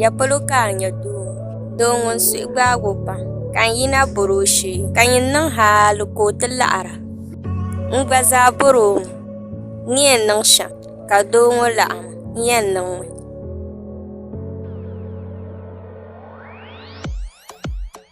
Ya polo ka a nya doo doo ŋun suhu gbaag o pam ka n yina bɔr o shee ka nyin niŋ haali ka o ti laɣira. N gba zaa bɔr o mi ni yɛn niŋ shɛm ka doo ŋɔ laɣim n yɛn niŋ mi.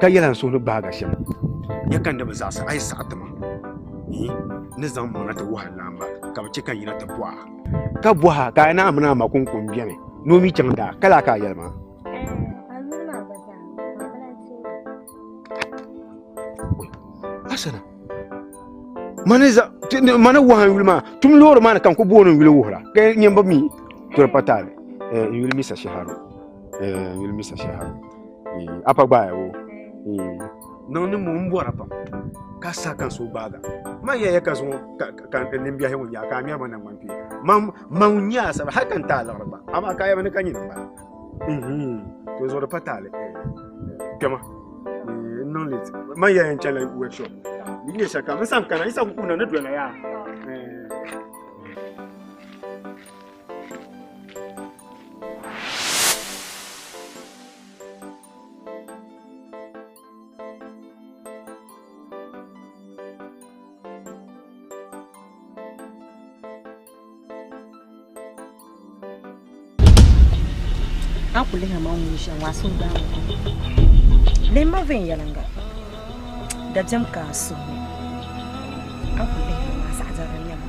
ka yɛla n suhu ni gbaagi shɛm ya ka n ni bi zaɣisi a yi saɣi ti ma yi ni zaŋ maŋa ti wuhiri naa ma ka bi chɛ ka n yina ti bɔha ka bɔha ka a naa mini a ma kunkun bɛni ni o mi chaŋ daa ka laa ka a yɛli ma asana mani za ti- ni- mani waha n yuli maa tum loori maa ni ka n ku booni n yuli wuhira ka nyɛ bi mi toli pa taali n yuli misa shɛharo n yuli misa shɛharo eh, apa gbaaya wo eh, niŋ ni mo n bɔra pam ka sa kan so gbaaga man yɛya ka zuŋɔ ka nimbiɛhi ŋun yaa ka a ŋmɛri ma naŋman pii man ŋun nyɛ asaba hali ka n taai liɣiri gba amaa ka yɛba ni ka nyini bala mhm. to zuɣu di pa taali eh, kpɛma niŋ late man yɛya n chɛla workshop n nyɛ shɛka n san kana n sa ku kuna ni dɔla yaa a kuli ha ma ŋun ʒiya ŋaa suhu daa lehi ma viɛnyɛliŋga dabiɛm ka a suhu ni a kuli ha maa zaɣ dɛri n nyɛ ma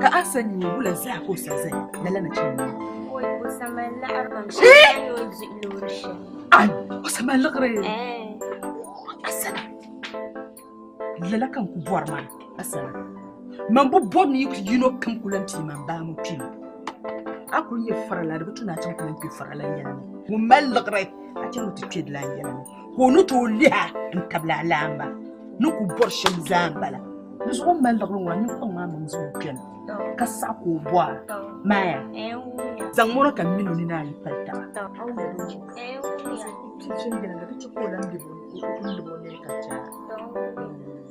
Ka a sa nyɛ wula zaa ka o sa zaya lala nachimba ŋɔ? O sa mali liɣiri kam shɛm ka ni o di loori shɛm. Ai, o sa mali liɣiri? Asana, lala ka n ku bɔri maa, Asana. Man bi bɔri ni yino kam ku lan pii man baa ŋɔ kpɛm. A kul nyɛ farila di bi tu ni a chaŋ ti lan kpe farila n yɛla ni. Ŋun mali liɣiri, a chɛ ni o ti kpe di la n yɛla ni. ka o ni tooi liha n-tabili alaamba ni ku bɔri shɛm zaa m-bala. Di zuɣu m-mali liɣiri ŋɔ, a nyu kpaŋ maa maŋ zuɣu kpɛna ka saɣi ka o bɔra, Maya, zaŋ mɔro ka m mini o nini ayi pali taba.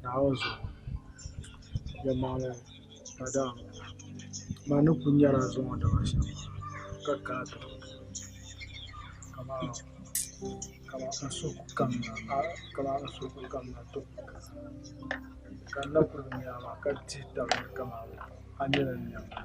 Naawuni zuɣu yɛlimaŋli ka dama ma ni kuli nyɛla n zaŋ o daba shɛm ka kana ti bini amaa ka n suhu ku kamina tɔ ka n na kuli bi nya maa ka dihi tabili kamani a ni yɛn niŋ maa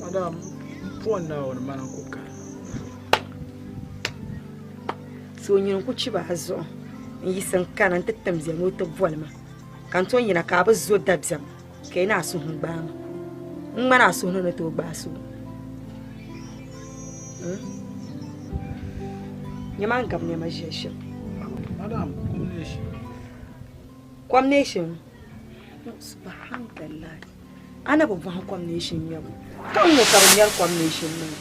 Madam, phone na wani mana ku ka. So nyini ku chiba a zuɣu n yiɣisi n kana n ti tim bia ni o ti boli ma ka n tom yina ka a bi zo dabiɛm ka yi ni a suhu gbaai ma n ŋmani a suhu ni ni tooi gbaai so nyɛma n gabi niɛma ʒiɛhi shɛm Madam, Kom neeshin subhanallah a na bi bɔhi kom neeshin ŋmɛbu ka n ŋɔ ka bi ŋmɛri kom neeshin niŋ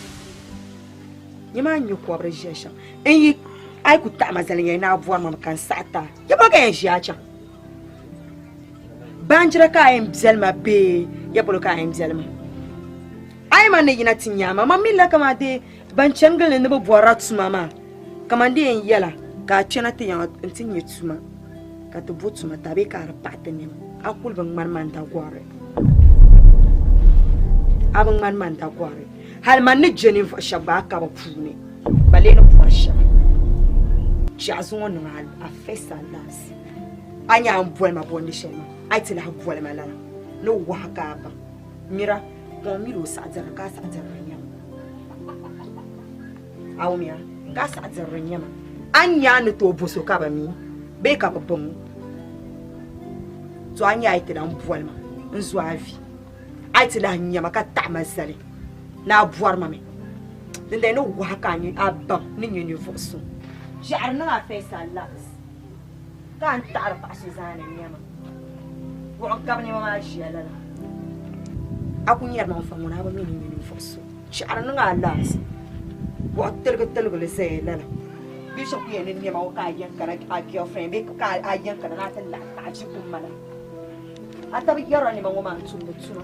nyɛ maa nyɛ kɔbiri ʒiya shɛm n yi a yi ku taɣima zali yɛn naa bɔri mam ka n saɣi taa yɛ bɔ ka yɛn ʒiya chaŋ baanjira ka a yɛn biɛli ma bee yɛ polo ka a yɛn biɛli ma a yi ma ni yina ti nyaama mam mi la ka maa dee Ban chani gili ni ni bi bɔrila tuma maa, kaman di yɛn yɛla ka a kpɛna ti yaŋ a nti nya tuma ka ti bo tuma tabili ka a di paɣi ti nɛma, a kul bi ŋmani ma n-dagɔri. A bi ŋmani ma n-dagɔri, hal man ni je ninvuɣ shɛb gba a kaba puuni. Ba lee ni bɔri shɛm, Chɛ a zaŋ o niŋ a first and last. A nya a ni boli ma bɔndi shɛli maa, a yi ti lahi boli ma lala, ni wahu ka a baŋ. Mira! Ka o miri o saɣidira ka a saɣidiri n-nyɛ ma. A wumiya? Ka a saɣidiri n-nyɛ ma. A ni nya a ni tooi bo so ka bɛ mi bee ka bɛ baŋ o? To a nya a yi ti lahi boli ma n-zo a vi. A yi ti lahi nya ma ka taɣi ma zali ni a bɔri ma mi, dindali ni wahi ka a baŋ ni nyɛ ninvuɣ so. Ʒiɛɣiri niŋ a face a lags. Ka n taɣiri paɣ so zaa ni nɛma buɣim ka bɛ nɛma maa ʒiya lala. A ku nyari ma n-fa ŋuna a bi mi ni nyɛ ninvuɣ so chɛɣiri niŋ a laansi buɣ tiligitiligili zaya lala. Bɛ shɛb ku yɛn ni nɛma ŋɔ ka a yɛn kana a girlfriend bee ka a yɛn kana ni a ti lahi taɣi ʒi kummana. A tabi yɛri a nɛma ŋɔ maa n-tumdi tuma.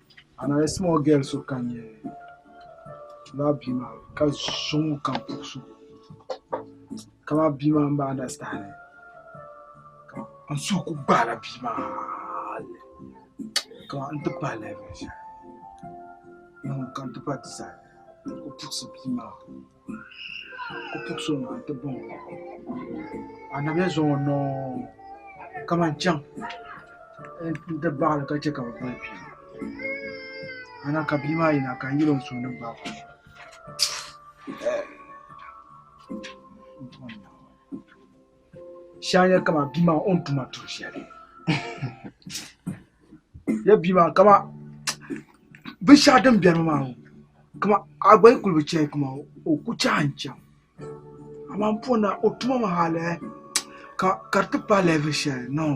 A na lee simɔ gɛl so ka nya lala bia maa ka suŋ o kam puhi so kamani bia maa m-bi andasitandi ka n suhu kul gbaai la bia maa hali kamani n-ti pahi lɛvin shɛli din ka n-ti pahi ti saha ka o puhisi bia maa. Ku puɣi so ŋun ti baŋ o ka anabiya zaŋ o niŋ kamani chɛŋ n ti baɣali ka chɛ ka bi boli bia ana ka bia maa yina ka n yɛli o suhu ni gbaagi o Shanya kama bia maa o ni tuma duri shɛli ya bia maa kama binshaɣu din biɛni maa ŋɔ kama a gba yi kuli bi chɛli kama o ku chɛɣa n chaŋ amaa n poni na o tuma maa hali ka di ti paai level shɛli noo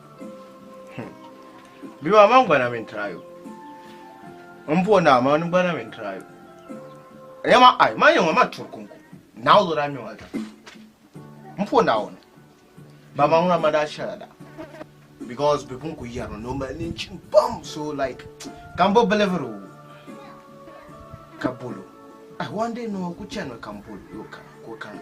Bima man gbana min tirayo. N bo naa man gbana min tirayo. Ya ma ai ma yɛŋa ma turi kunku. Naa o lura mi ma ta. N po naa o ni. Ba ma ŋuna ma daa shɛla da. Because bi pun ku yɛrimi ni o mali nin chim pam so like ka n bo biliviri o ka bolo. Ai one day no ku chani ka n bolo yo ka ko kana.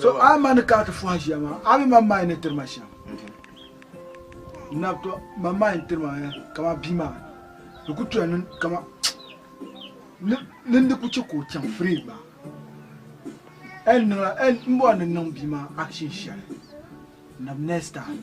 so a ma ni kana ti fɔhi ʒiya maa a mi man maa ni tiri ma shɛm nabto man maa ni tiri ma ya kama bia maa di ku tuya ni kama ni ni di ku chɛ ka o chaŋ free gba ɛn niŋla ɛn n bɔri ni niŋ bia maa action shɛli nab next time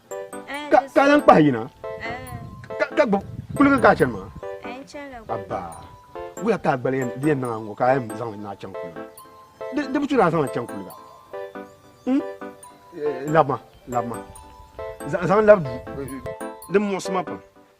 ka lan kpahi yina ka gbubi kuliga ka a chani maa abba wuya ka a gbali di yɛn niŋa ŋɔ ka a yɛn zaŋli na chaŋ kuliga di bi churi a zaŋli chaŋ kuliga hmm? eh, labima labima zaŋ labi duu eh, din muɣisi ma pam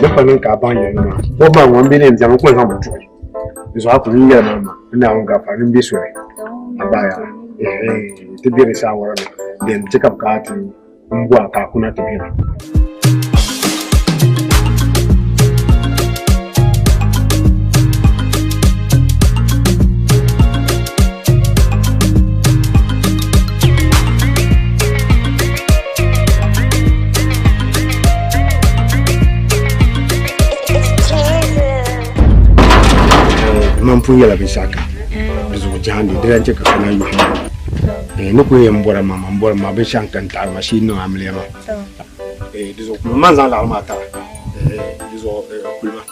Ni fa niŋ ka a baŋ yɛlli maa, bɔbu maa ŋɔ m-be ni yɛn biɛmi n-ku ni zaŋ ma tuhi. Di zuɣu a ku niŋ yɛlli maa ma, n Naawuni gari pam ni m-be soli a bahi a. Eehee! Ti be di saawara ni bɛn ti ka bi ka ti m-bo a ka a kuna ti be ba. man pun yɛla binshaɣu ka di zuɣu jahandi di lan chɛ ka kana yuhi eh, ni ku yɛn bɔra ma ma n bɔri ma binshaɣu n kan taɣari ma shee niŋ amiliya ma eh, di zuɣu kulima man zaŋ laɣari maa tara eh, di zuɣu kulima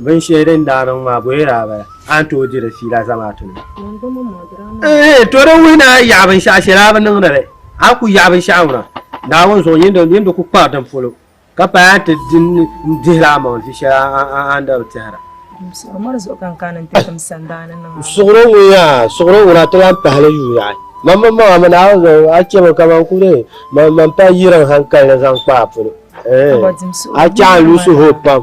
Binshɛli din daa niŋ maa bɔye daa bala a ni tooi di di fiila zamaatu ni. Ehe to di wuhi ni a yaɣi binshɛɣu shɛli a bi niŋdi li a ku yaɣi binshɛɣu ŋuna Naawuni zuɣu yini di ku kpari din polo ka paai a ni ti di n-dihi li amaŋ vi shɛli a ni daa bi tɛhira. Suɣiro ŋun-ya suɣiro ŋuna ti lan pahi li yuui yaɣi man mini maŋa mi Naawuni zuɣu a chɛmi ka man ku dee man man pahi yiriŋ hankali ni zaŋ kpa a polo ehe a chaɣi n-luɣisi hooi pam.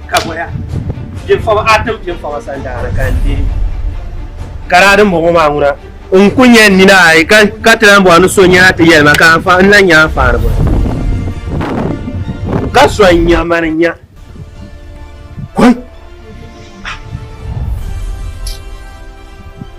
kaboya piɛfɔba a tim piɛfɔba sandaana ka n deei garaadi m-bɔŋɔ maa ŋuna n ku nyɛ nina ayi ka ka ti lan bɔŋɔ ni so nyɛla ti yɛli ma ka n lan nyɛ anfaani bɔŋɔ ka so n nya mani n nya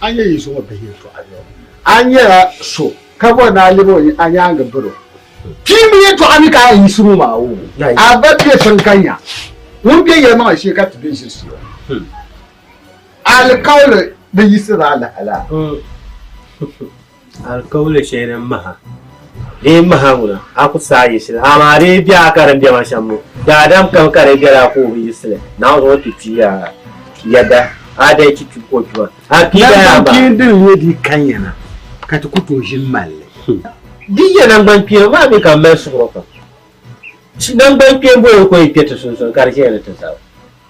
A nyɛ yi zuŋɔ bihi yi tɔɣa ni a nyɛla so ka bɔri ni a lɛbi o a nyaaŋa biri o. Pii mi yi tɔɣa ni ka a yiɣisi ŋɔ maa o a ba bɛ tiŋ ka nya ŋun bɛ yɛlimaŋli shee ka ti bɛ ʒirisi o. Alikauli bi yiɣisiri alaha la. Alikauli shɛli din maha dee maha ŋuna, a ku saai yiɣisi li, amaa dee bɛ a ka din bɛ ma shɛm ŋɔ, daadam kam ka di bela a ka o bi yiɣisi li, Naawuni zaŋ o ti kpi ya yɛda a daa ti kpi o tuma, a kpi ya yaa maa. Nangbankpeeni din nyɛ di kanya na ka ti ku tooi ʒini mali li. Din nyɛ nangbankpeeni maa mi ka m mali suhuro pam. Nangbankpeeni boli n-kɔŋ yi kpe ti sunsuuni ka di chɛ ya ni ti zaba.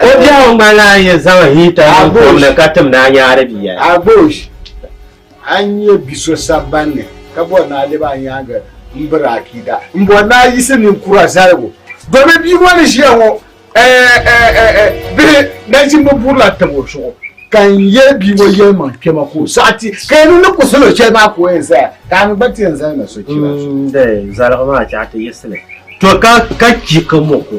O biɛhigu ŋmani la a yi zaŋ hiita niŋ kom ni ka tim ni a nyaari bia. Agbosh, A ni nya bi so sabban ni ka bɔri ni a lɛbi a nyaaŋa m-biri akiida, m-bɔri ni a yiɣisi ninkura zaligu domi bia ŋɔ ni ʒiya ŋɔ bihi nachimba burila tab o zuɣu ka n yɛli bia ŋɔ yɛlimaŋ kpɛma ka o saɣi ti ka yi niŋ ni kuɣisi lo shɛli maa ka o yɛn zaya ka a mi gba ti yɛn zali na sochira zuɣu. N-dee zaligu maa chaɣi ti yiɣisi ni to ka ka chi ka mɔku.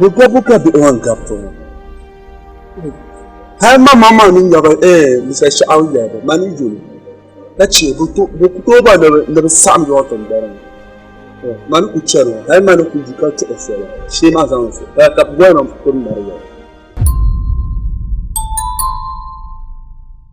Ni gabu ka bihi wan gabi ti ŋɔ. Hal ma ma ma ni nyaba eh bisa shɛɣu yɛba ma ni yuli ka chɛ bi ku tooi ba ni bi saɣam yɔɔ tin bɔri ŋɔ. Eh, Ma ni ku chɛri ŋɔ hal ma ni ku yi ka tuɣi soli shee ma zaŋ so ka ka bi bɔri ma ku mari yɛba.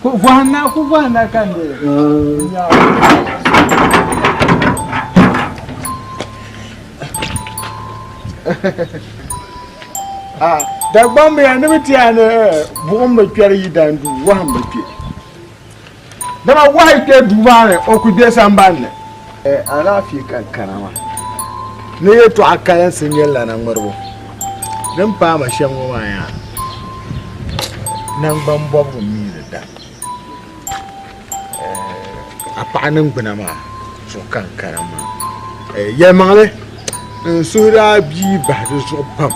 Ku vɔhina, ku vɔhina ka n dee ah, Dagbamb ya ni bi ti ya ni eh, buɣim bi kpɛri yi dan du, wɔhim bi kpɛ. Dama wɔhi kpɛ duu maa ni, o ku kpɛ sambanni. Alaafee ka n kana maa ni yɛltɔɣa kalinsi n nyɛ lana ŋmɛribu din paai ma shɛm ŋɔ maa yaa nangbani bɔbigu n mii di da a paɣa ningbuna maa zuɣu ka n kana maa yɛlimaŋli n suhu daa bia bahi di zuɣu pam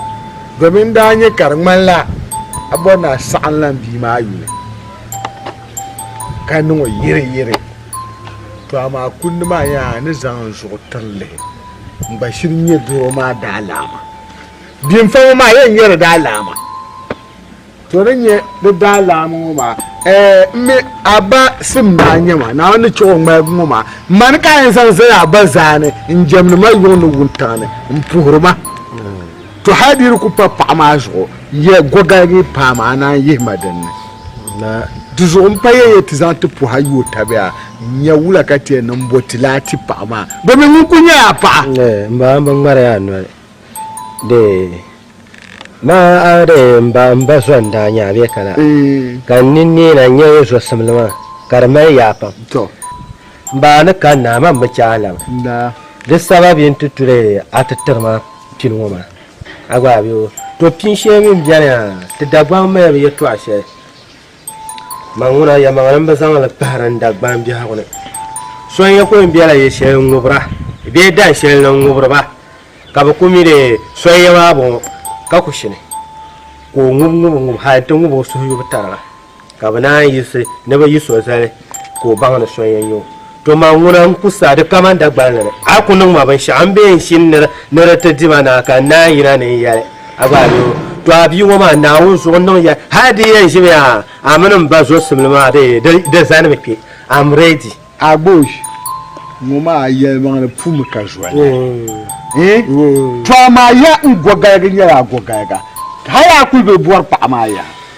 domin n daa nyɛ ka di ŋmanila a bɔri ni a saɣam lan bia maa yuli ka niŋ o yiri yiri To amaa kundi maa yaa a ni zaŋ n zuɣu tiri lihi n gba shiri nyɛ doro maa daalaama. Bimfa ŋɔ maa yɛn nyɛ di daalaama. To ni nyɛ di daalaama ŋɔ maa ɛɛ n mi a ba sim daa nyɛ ma Naawuni ni chɛ o ŋmaligi ŋɔ maa mani ka a yɛn zaŋ zali a ba zaani n jɛmdi ma yuŋ ni wuntaŋ ni m puhiri ma. To hal di ni ku pa paɣa maa zuɣu, ya gɔgaya ni paam a naan yihi ma din ni. Di zuɣu m pa ya ya ti zaŋ ti puhi a yuo tabiya nya wula ka ti yɛn niŋ m-bo ti laa ti paɣa maa, domin ŋun kul nyɛla a paɣa. M ba, m bi ŋmari ya noli. Dee, ma a dee m ba, m ba zo n-daa nya a bee ka la, ka n ni neei na nya ya zosimli maa, ka di mali yaa pam. M ba, a ni kanna, a ma m-bi chɛ a laba. Di sababi n-ti tuli a ti tiri ma. pini ŋɔ maa a gba a bɛ o to pini shɛli mini bɛni a ti Dagbaŋ mali bi yɛtɔɣa shɛli man ŋuna yɛlimaŋli n bi zaŋli kpahiri n Dagbaŋ biɛhigu ni so n yɛ ku yɛn bɛla yɛ shɛli n ŋubira bee dahin shɛli ni n ŋubiri ba ka bi ku mi dee so n yɛ maa bɔŋɔ ka ku shini ka o ŋubi ŋubi ŋubi hali n ti ŋubi o suhu yubu tariga. ka bɛ naan yiɣisi ni bɛ yi so zali ka o baŋ ni so n-yɛn nyɛ o. To ma ŋuna n-ku sa di kaman Dagbani ni. A ku niŋ ma binshɛɣu m-be n shini ni ni di ti di ma naai ka n naan yina ni n yɛli a gba a nir o. To a bia ŋɔ maa, Naawuni zuɣu n-niŋ yɛli hal di yɛn ʒimi a a mini m ba zɔsimli maa bee? Di zanimi kpe. I'm ready. Agbosh ŋɔ maa yɛlimaŋli puumi ka zoli eeh! To amaa yaha n gɔgaliga nyɛla a gɔgaliga hal a kuli be bɔri paɣa maa yaha.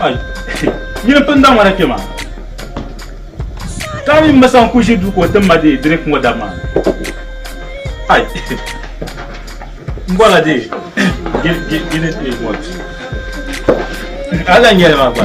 Ai, nyini pini da ŋmana kpe maa. Ka mi masa n-ku ʒi duu ka o tim ma dee drink ŋɔ dab maa. Ai, m-bɔla dee, gini ti ŋɔ. Hali n-nyɛli maa gba.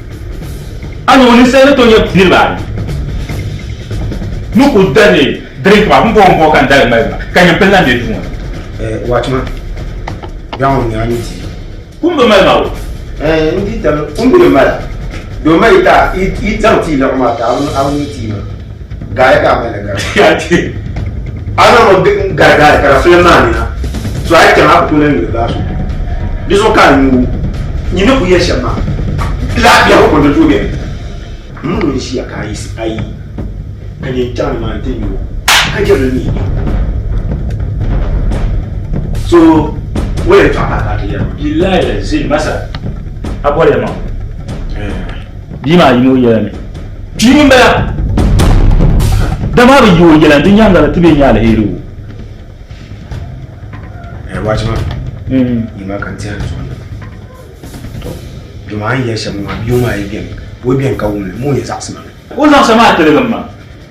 A ni ŋɔ ninsal ni tooi nyɛ niriba anu ni ku dali dirink maa, bimbɔbimbɔbi ka n dali mali ma, ka nyimpil lan be duu ŋɔ ni. Eh, watchman, bɛɣu ŋɔ nyɛla ni di. Kum bi mali ma o. Eh, n di dam, kum bi ni mala. Doo ma yi taai, yi zaŋ ti yi lɛɣu maa ti a bi ni ti yi ma. Gari ka mali gari. Ana mo gari gari ka fili maa ni na. So ai kɛm a ku tola nyuli baa so. Di so ka nyu nyi ni ku yɛ shɛm maa. Laafia ko kɔnto tuo bɛni. Mun n ʒiya ka ayi ayi ka nyɛ n chaŋ ni maa n ti nyu ka jɛbili mi nyu. So wɛn tɔɣa ka ti yɛm. Billahi lazim masa a bɔli ma. Bia maa yim o yɛla ni, Pii ŋun bala! Dama a bi yi o yɛla ni, di nyaaŋa la ti be nya aliheri o. Ɛɛ, waachi maa hmm. yi maa ka n tɛri zuɣu tɔ dama a ni yɛli shɛm ŋɔ maa bia maa yi bɛni o bɛni ka wumli moo yɛn zaɣisima ni. O zaɣisa maa tiligim ma.